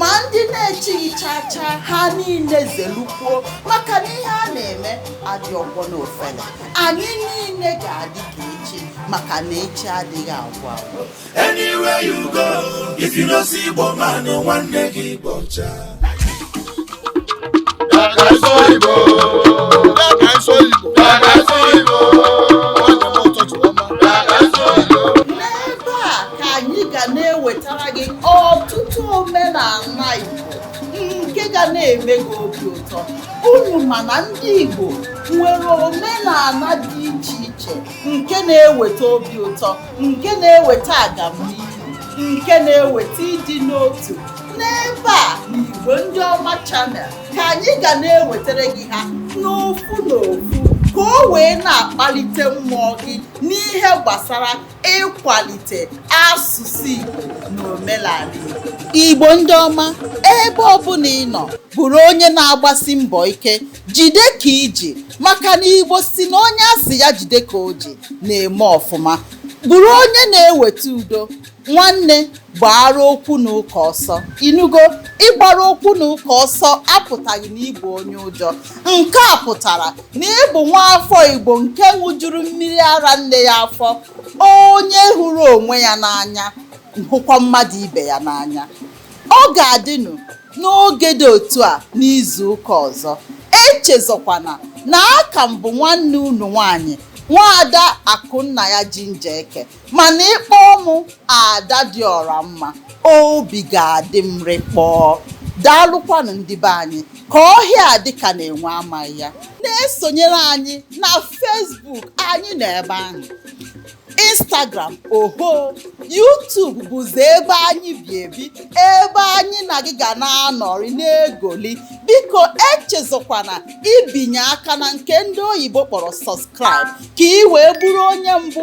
ma ndị na-echighị chaa chaa ha niile zelukwuo maka na ihe a na-eme adị ọgbọ n'ofele anyị niile ga-adị ka echi maka na echi adịghị agwụ agwụ Anywhere you go, if you no see Igbo man, no nwanne gị bọcha. Igbo ka anyị ga na-ewetara gị ọtụtụ omenala Igbo nke ga na-eme gị obi ụtọ unu ma na ndị Igbo nwere omenala dị iche iche nke na-eweta obi ụtọ nke na-eweta agamnihu nke na-eweta ịdị n'otu n'ebe a n'Igbo ndị ọma channel ka anyị ga na-ewetara gị ha n'ofu n'ofu ka o wee na-akpalite mmụọ gị n'ihe gbasara ịkwalite asụsụ Igbo na omenala Igbo. Igbo ndị ọma ebe ọbụla ị nọ bụrụ onye na-agbasi mbọ ike jide ka i ji maka na Igbo si na onye a sị ya jide ka o ji na-eme ọfụma bụrụ onye na-eweta udo nwanne gbaara okwu na ụka ọsọ ị nụgo ịgbara okwu na ụka ọsọ apụtaghị na ị bụ onye ụjọ nke a pụtara na ị bụ nwa afọ igbo nke ṅụjuru mmiri ara nne ya afọ onye hụrụ onwe ya n'anya hụkwa mmadụ ibe ya n'anya ọ ga-adịnụ n'oge dị otu a n'izu ụka ọzọ echezọkwana na a ka m bụ nwanne unu nwanyị nwaada akụnnaya jinja eke mana ị kpọọ mụ ada dị ọra mma obi ga-adị m rịkpọọ daalụkwanụ ndị be anyị ka ọhịa a dị ka na enwe amaghị ya na-esonyere anyị na Facebook anyị nọ ebe ahụ Instagram oho YouTube bụzi ebe anyị bi ebi ebe anyị na gị ga na-anọrị na-egoli biko echezọkwana ibinye aka na nke ndị oyibo kpọrọ subscribe ka ị wee bụrụ onye mbụ